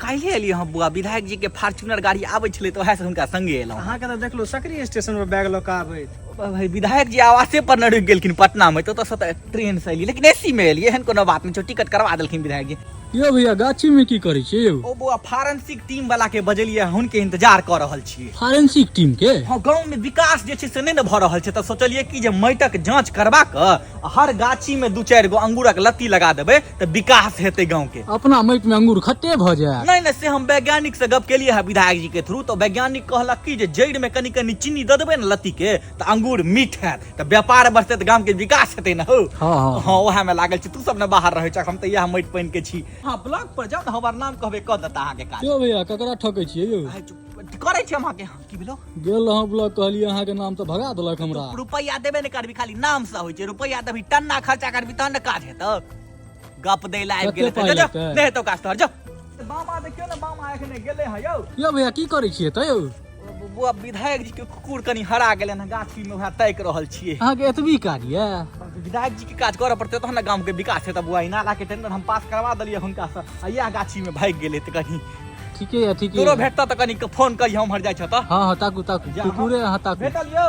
काल्हि एलियै हँ बुआ विधायक जी के फार्चूनर गाड़ी आबै छलै तऽ ओएहसँ हुनका संगे एलहुँ अहाँके तऽ देखलहुँ सकरी स्टेशन पर बैग लऽ कऽ आबैत भाई विधायक जी आवासे पर न रुकि गेलखिन पटना में तो तो सत ट्रेन से एलियै लेकिन एसी में एलियै एहन कोनो बात नहीं छो टिकट करवा देलखिन विधायक जी यो भैया गाछी में की करै छियै यौ ओ बुआ फारेंसिक टीम वाला के बजलियै हुनके इंतजार कर रहल छियै फारेंसिक टीम के हाँ गाँव में विकास जे छै से नहि ने भऽ रहल छै तऽ सोचलियै कि जे माटिक जांच करबा कऽ हर गाछी में दू चारि गो अंगूरक लत्ती लगा देबै तऽ विकास हेतै गाँव के अपना माटि में अंगूर खट्टे भ जाए नहीं नहीं से हम वैज्ञानिक से गप केलिए है विधायक जी के थ्रू तो वैज्ञानिक कहलक कि जे जड़ में कनी कनी चीनी दे देबे ने लत्ती के तो अंगूर मीठ है तो व्यापार बढ़ते तो गांव के विकास हेतै ना हो हाँ, हाँ। हाँ वह में लागल छी तू सब ने बाहर रहे छक हम तो यह माटि पानि के छी हाँ ब्लॉग पर जाओ ने हमर नाम कहबे कह देता अहाँ के काज यो भैया ककरा ठकै छियै यौ आइ चुप- करै छी हम अहाँ के की भेलो गेल रहौं ब्लॉक कहलिए अहाँ के नाम से भगा देलक हमरा रुपैया देबे ने करबी खाली नाम से होय छै रुपैया देबी टन्ना खर्चा करबी तहन ने काज हेतौ गप दै ला आबि गेल कते पाइ लगतै? नै हेतौ काज तोहर जो बामा देखियो ने बामा एखने गेले है यौ यो भैया की करै छियै त यौ बुआ विधायक जी के कुकुर कनी हरा गेलन हँ गाछी में वएह तैक रहल छियै अहाँ के एतबी कार्य ये विधायक जी के काज करऽ पड़तै तहन ने गाम के विकास हेतै बुआ ई नाला के टेंडर हम पास करवा देलियै हुनका से आ इएह गाछी में भागि गेलै तऽ कहीं ठीके यऽ ठीके तोरो यऽ। भेटता तऽ कनि फोन करी हम हर जाइ छ तऽ हाँ हाँ ताकू ताकू जा, कुकुरे हाँ ताकू भेटल यौ